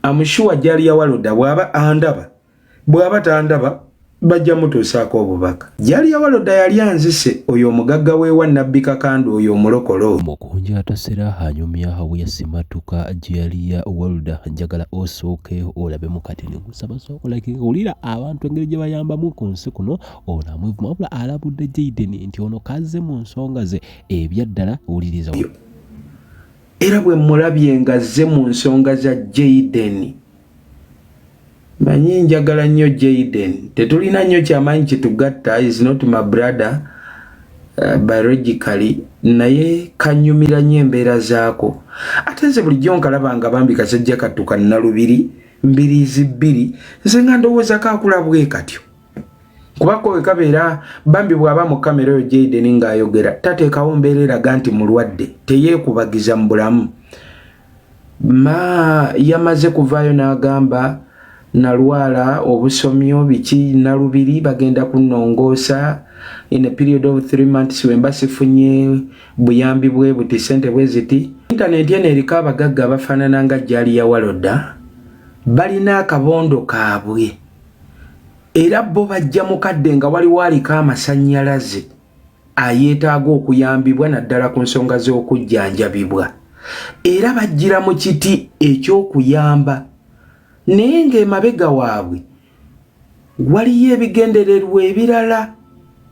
amushuwa jali ya waloda bwaba andaba bwaba tandaba bajja mutuusaako obubaka jali ya waloda yali anzise oyo omugagga wewa nabbi kakanda oyo omulokolo mukunja atasera anyumya awo yasimatuka jali ya waloda njagala osooke olabe mukati negusaba sookolaki wulira abantu engeri gye bayambamu ku nsi kuno ono amwevuma wabula alabudde jaiden nti ono kazze mu nsonga ze ebyaddala wuliriza era bwe mulabye nga zze mu nsonga za jayideni manyi njagala nnyo jayiden tetulina nnyo kyamanyi kitugatta is not my brother uh, biologically naye kanyumira nnyo embeera zaako ate nze bulijjo nkalaba nga bambi kasajja kattuka nnalubiri mbiriizi bbiri nze nga ndowooza kaakula bwe katyo kuba kowe kabeera bambi bw'aba mu kamera oyo jaideni ng'ayogera tateekawo mbeera eraga nti mulwadde teyeekubagiza mu bulamu ma yamaze kuvaayo n'agamba nalwala obusomyo biki nalubiri bagenda kunongoosa in a period of three months wemba sifunye buyambi bwe buti sente bwe ziti intaneti eno eriko abagagga abafaanana nga jali ya waloda balina akabondo kaabwe era bo bajja mukadde nga waliwo aliko amasannyalaze ayeetaaga okuyambibwa naddala ku nsonga z'okujjanjabibwa era bajjira mu kiti eky'okuyamba naye ng'emabega waabwe waliyo ebigendererwa ebirala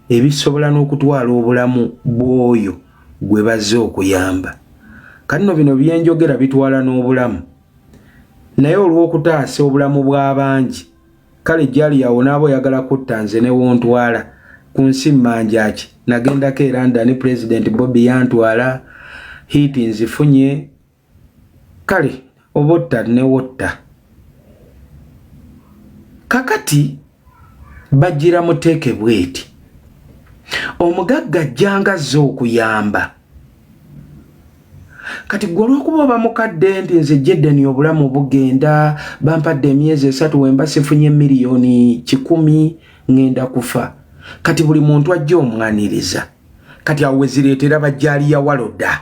ebisobola n'okutwala obulamu bw'oyo gwe bazze okuyamba kanno bino byenjogera bitwala n'obulamu naye olw'okutaasa obulamu bw'abangi kale jali yawo n'aba oyagala kutta nze ne wontwala ku nsi mmanjaki nagendako era ndani pulezidenti bobi yantwala hiiti nzifunye kale obotta newotta kakati bajjira muteeke bweti omugagga ajjanga azze okuyamba kati gwe olwokuba oba mukadde nti nze jedeni obulamu bugenda bampadde emyezi esatu wemba sifunye miliyoni kikumi ŋŋenda kufa kati buli muntu ajja omwaniriza kati awo wezireetera bajjaaliya waloda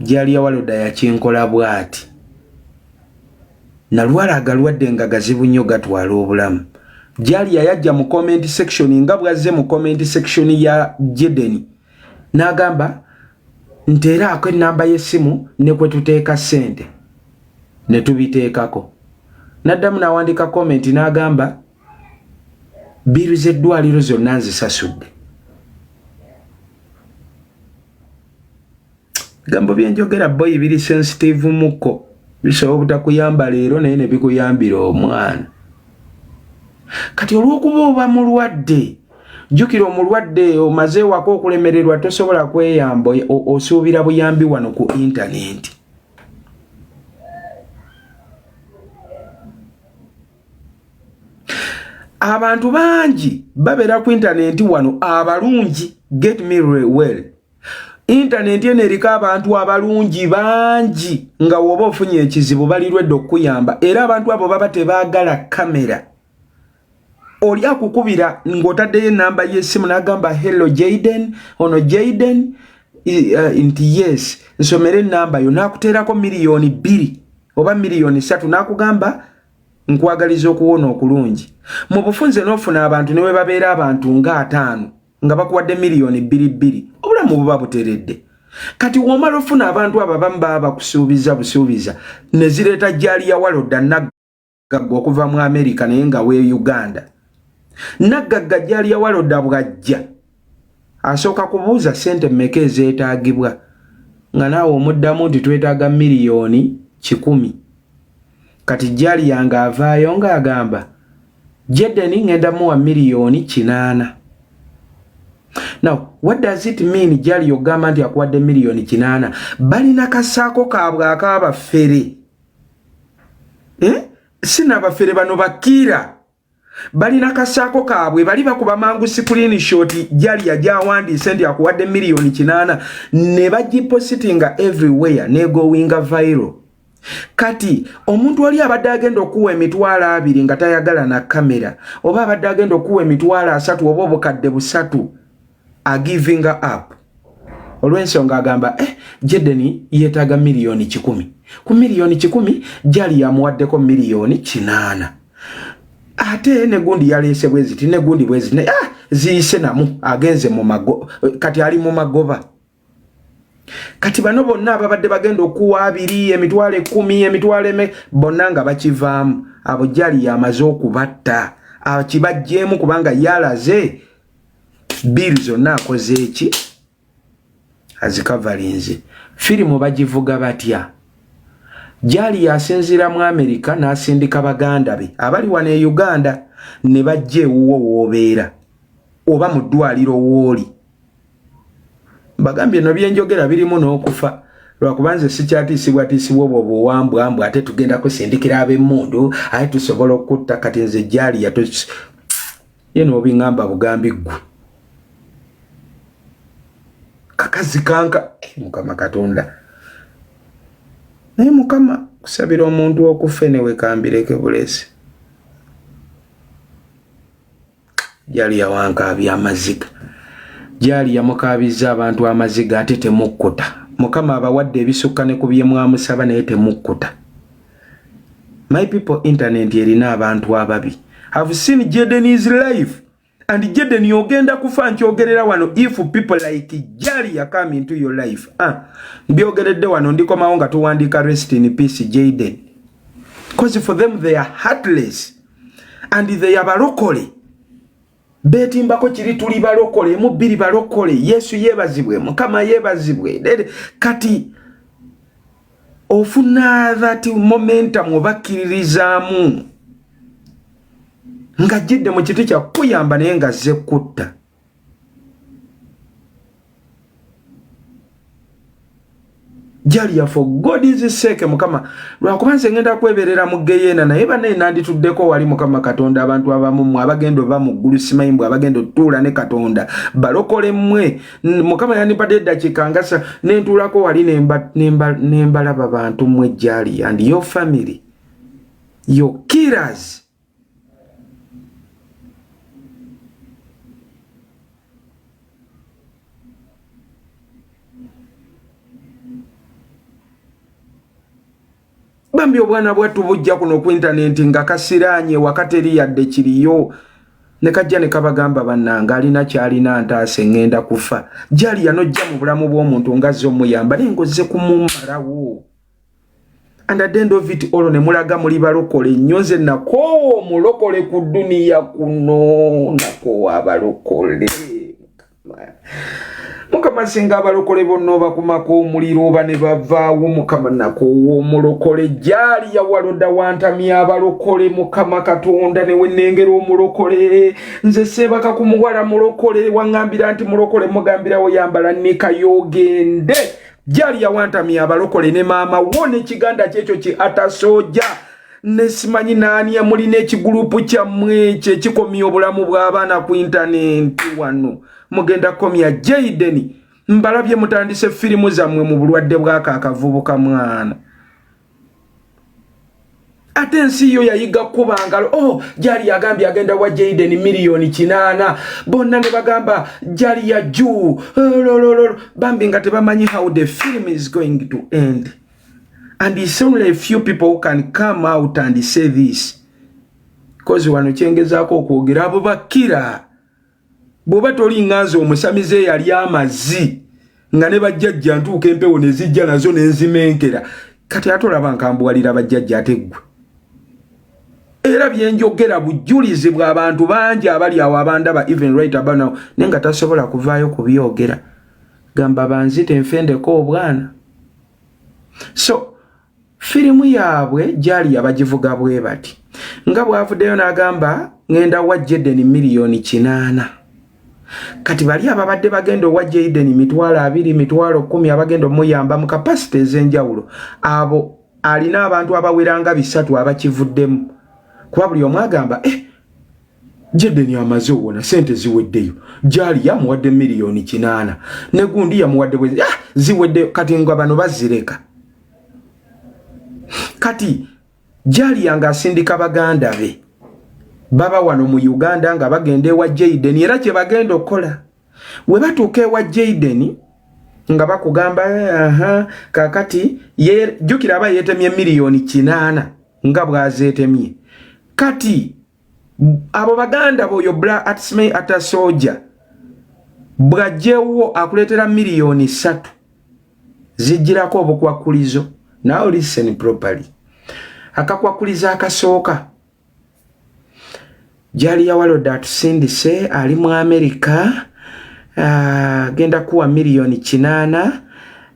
Jalia Waloda yakinkola bwati. Nalwala agalwadde nga gazibu nnyo gatwala obulamu. Jalia yajja mu comment section nga bwazze mu comment section ya Jedeni n'agamba nteeraako ennamba y'essimu ne kwe tuteeka ssente ne tubiteekako. N'addamu n'awandiika comment n'agamba biiru z'eddwaliro zonna nzisasudde. bigambo byenjogera boyi biri sensitive muko bisobola obutakuyamba leero naye nebikuyambira omwana kati olwokuba oba mulwadde jukira omulwadde omaze wako okulemererwa tosobola kweyamba osuubira buyambi wano ku intanenti abantu bangi babeera ku intanenti wano abalungi get me well intanenti eno eriko abantu abalungi bangi nga woba ofunye ekizibu balirwedde okukuyamba era abantu abo baba tebaagala kamera oli akukubira ng'otaddeyo enamba y'essimu n'agamba hello jaden ono jaden uh, nti yes nsomere enamba yo n'akuteerako miliyoni bbiri oba miliyoni ssatu n'akugamba nkwagaliza okuwona okulungi mu bufunze n'ofuna abantu ne bwe babeera abantu nga ataano nga bakuwadde miliyoni bbiri bbiri obulamu buba buteredde kati womala ofuna abantu abo abamu baba bakusuubiza busuubiza ne zireeta jjaali ya walodda naggagga okuva mu amerika naye nga we uganda naggagga jjaali ya walodda bwajja asooka kubuuza sente mmeka ezeetaagibwa nga naawe omuddamu nti twetaaga miliyoni kikumi kati jaliya nga avaayo nga agamba jedeni ngenda muwa miliyoni kinaana now what does it mean jali ogamba nti akuwadde miliyoni kinaana balina kasaako kaabwe akaabafere eh? sinabafere bano bakiira balina kasaako kaabwe bali bakuba mangu sikulini shoti jali yajawandiise nti akuwadde miliyoni kinaana ne bagipositinga everywhere negowinga viral kati omuntu oli abadde agenda okuwa emitwalo abiri nga tayagala na kamera oba abadde agenda okuwa emitwalo asatu oba obukadde busatu agivinga up olw'ensonga agamba eh, jedeni yeetaaga miliyoni kikumi ku miliyoni kikumi jali yamuwaddeko miliyoni kinaana ate negundi yaleese bweziti negundi bweziti ah, ziyise namu agenze mumago kati ali mu magoba kati bano bonna ababadde bagenda okuwa abiri emitwalo ekumi emitwalo eme bonna nga bakivaamu abo jali yamaze okubatta akibajjeemu kubanga yalaze biiri zonna akoze eki azikavalinze firimu bagivuga batya jali yasinziira mu amerika n'asindika baganda be abali wano e uganda ne bajja ewuwo woobeera oba mu ddwaliro wooli bagambye no byenjogera birimu n'okufa lwakuba nze sikyatiisibwatiisibwa obwo buwambwa mbu ate tugenda kusindikira ab'emmundu aye tusobola okutta kati nze gyali yato ye n'obiŋamba bugambi ggwe kakazi kanka eh, mukama katonda naye mukama kusabira omuntu okufe newekambireke bulesi gyali yawankaabya amaziga gyali yamukaabizza abantu amaziga ate temukkuta mukama abawadde ebisukka ne ku bye mwamusaba naye temukkuta my people internet erina abantu ababi have seen jaden is life and jaden ogenda kufa nkyogerera wano if people like jali yakam into your life ah, mbyogeredde wano ndikomawo nga tuwandiika rest in peace jaden bcause for them they are heartless and they are balokole betimbako kiri tuli balokole mu biri balokole yesu yebazibwe mukama yebazibwe kati ofuna that momentum obakiririzaamu nga jidde mu kiti kya kuyamba naye nga zze kutta jalya for god is sake mukama lwakuba nze ngenda kweberera mu geyeena naye banaye nandituddeko wali mukama katonda abantu abamu mwe abagenda oba mu ggulu simanyi mbwe abagenda otutuula ne katonda balokole mmwe mukama yandimpadde eddakiika ngasa nentuulako wali nembalaba bantu mmwe jali and your family your killers bambi obwana bwattu bujja kuno ku intanenti nga kasiraanye wakateri yadde kiriyo ne kajja ne kabagamba bannanga alina kyalina ntaase ŋŋenda kufa jali yanojja mu bulamu bw'omuntu ngazze omuyamba naye ngozze kumumalawo and at the end of it all ne mulaga muli balokole nnyo nze nakoowa omulokole ku duniya kuno nakoowa abalokole mukama singa abalokole bonna obakumako omuliro oba ne bavaawo mukama nakoowa omulokole jaali yawaloda wantamya abalokole mukama katonda newe nengera omulokole nze seebaka ku muwala mulokole waŋambira nti mulokole mugambirawo yambala nikayoogende jali yawantamya abalokole ne maama wo nekiganda kyekyo ki atasoja nesimanyi naani amulina ekigulupu kyammwe ekyo ekikomya obulamu bw'abaana ku intanenti wano mugenda komya jaideni mbalabye mutandise firimu zammwe mu bulwadde bwako akavubuka mwana ate ensi yo yayiga kukuba ngalo o oh, jali yagambye agenda wa jaden miliyoni kinaana bonna ne bagamba jali ya juu lolololo bambi nga tebamanyi how the film is going to end and it's only a few people who can come out and say this bcause wano kyengezaako okwogera abo bakira bwoba toli nganze omusamize yali amazi nga ne bajjajja ntuuka empewo ne zijja nazo ne nzimenkera kati ate olaba nkambuwalira bajjajja ate ggwe era bye njogera bujulizi bw'abantu bangi abali awo abandaba even right about now naye nga tasobola kuvaayo kubyogera gamba banzite nfendeko obwana so Firimu yaabwe gyali yabagivuga bwe bati nga bw'avuddeyo n'agamba ng'enda wa Jaden miliyoni kinaana. Kati bali ababadde bagenda owa Jayden mitwalo abiri mitwalo kumi abagenda omuyamba mu kapasite ez'enjawulo abo alina abantu abaweranga bisatu abakivuddemu kuba buli omu agamba eh, Jayden amaze owona sente ziweddeyo gyali yamuwadde miliyoni kinaana ne gundi yamuwadde bwe ah, ziweddeyo kati nga bano bazireka kati jaliya nga asindika baganda be baba wano mu uganda nga bagenda ewa jaden era kyebagenda okukola webatuuka ewa jaden nga bakugamba aha kakati jukira aba yetemye miliyoni kinaana nga bwazetemye kati abo baganda boyo bla atsmei ata soja bwajjewo akuletera miliyoni satu zijjirako obukwakulizo now listen properly akakwakulizo akasooka jali yawaloda atusindise ali mu amerika uh, genda kuwa miliyoni kinana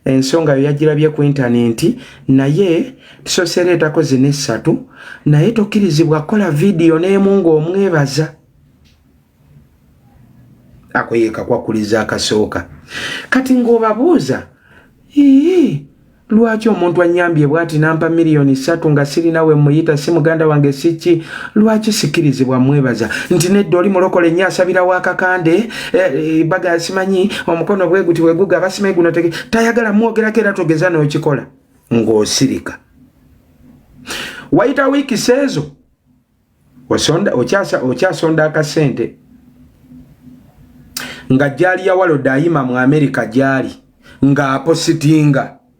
ensonga yo yagirabye ku intanenti naye tusoseera etako zina essatu naye tokkirizibwa kukola vidiyo n'emu ng'omwebaza ako yekakwakuliza akasooka kati ng'obabuuza ii lwaki omuntu anyambye bwati nampa miliyoni satu nga sirina we muyita si muganda wange siki lwaki sikirizibwa mwebaza nti nedda oli mulokole nnyo asabirawo akakande baga eh, eh, simanyi omukono bwe guti bwe guga basime guno tege tayagala mwogera kera togeza no kikola ngo sirika waita wiki sezo osonda ochasa ochasa onda ka sente nga jali ya walo daima mu america jali nga apositinga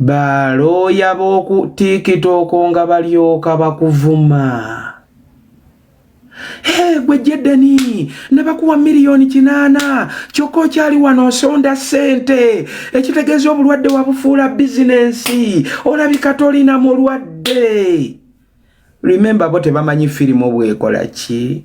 balooya b'oku tikitooko nga balyoka bakuvuma gwe jedeni nebakuwa miliyoni kinaana kyokka okyali wano osonda ssente ekitegeeza obulwadde wabufuula bizinensi olabika tolina mulwadde remembe bo tebamanyi firimu bwekola ki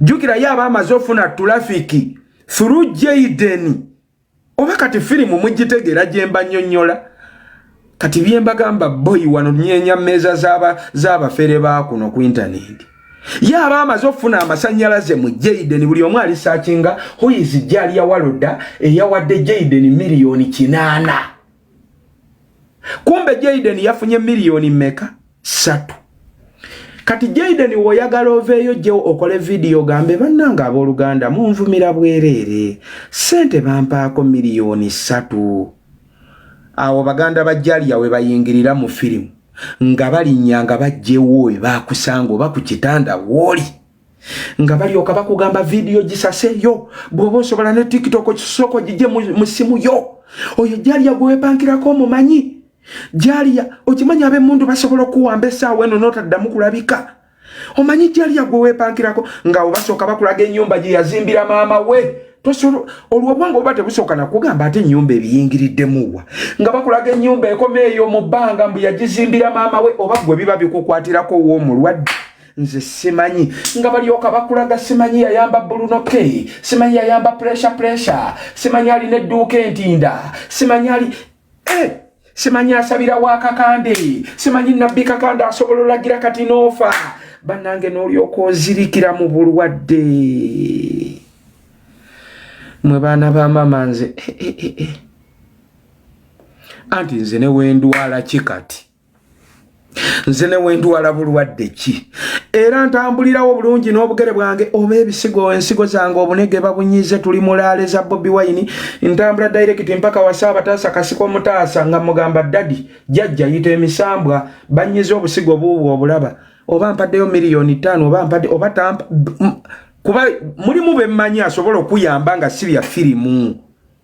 jukira ye aba amaze ofuna tulafiki through Jaden oba kati firimu mugitegeera gyemba nyonyola kati byembagamba boyi wano nyenya meeza z'abafere ba kuno ku intaneti ye aba amaze okufuna amasanyalaze mu Jaden buli omu ali sakinga huizi jali yawaloda eyawadde Jaden miliyoni kinaana kumbe Jaden yafunye miliyoni meka satu kati Jaden woyagala oveeyo jjewo okole vidiyo gambe bannanga abooluganda munvumira bwereere sente bampaako miliyoni satu awo baganda ba jaliya we bayingirira mu firimu nga balinnya nga bajjewo we bakusanga oba ku kitanda wooli nga balyoka bakugamba vidiyo gisaseyo bwoba osobola ne tiktok kisoko gije mu simu yo oyo jaliya gwewepankirako omumanyi jaliya okimanyi abemundu basobola okuwamba esaawa eno notaddamu kulabika omanyi jaliya gwewepankirako nga obasooka bakulaga enyumba gyeyazimbira maama we tosolo olwobwongo oba tebusooka nakugamba ate enyumba ebiyingiriddemuwa nga bakulaga enyumba ekoma eyo mu bbanga mbu yagizimbira maama we oba gwe biba bikukwatirako woomulwadde nze simanyi nga balyoka bakulaga simanyi yayamba buluno k simanyi yayamba pressure pressure simanyi alina edduuka entinda simanyi ali eh! simanyi asabira wa kakande simanyi nabbi kakande asobola olagira kati noofa bannange n'olyoka ozirikira mu bulwadde mwe baana ba mama nze eh, eh, eh, anti nze newendwala ki kati nze newendwala bulwadde ki era ntambulirawo bulungi n'obugere bwange oba ebisigo ensigo zange obunege babunyize tuli mulaale za bobi wine ntambula dairekiti mpaka wasa abataasa kasiko omutaasa nga mugamba dadi jajja yita emisambwa banyize obusigo buubwo obulaba oba mpaddeyo miliyoni ttaano oba mpadde oba tampa kuba mulimu bemmanyi asobola okuyamba nga si bya firimu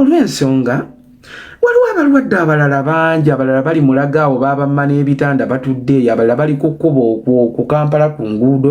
olw'ensonga waliwo abalwadde abalala bangi abalala bali mulaga awo baabamma n'ebitanda batudde eyo abalala bali ku kkubo ku kampala ku nguudo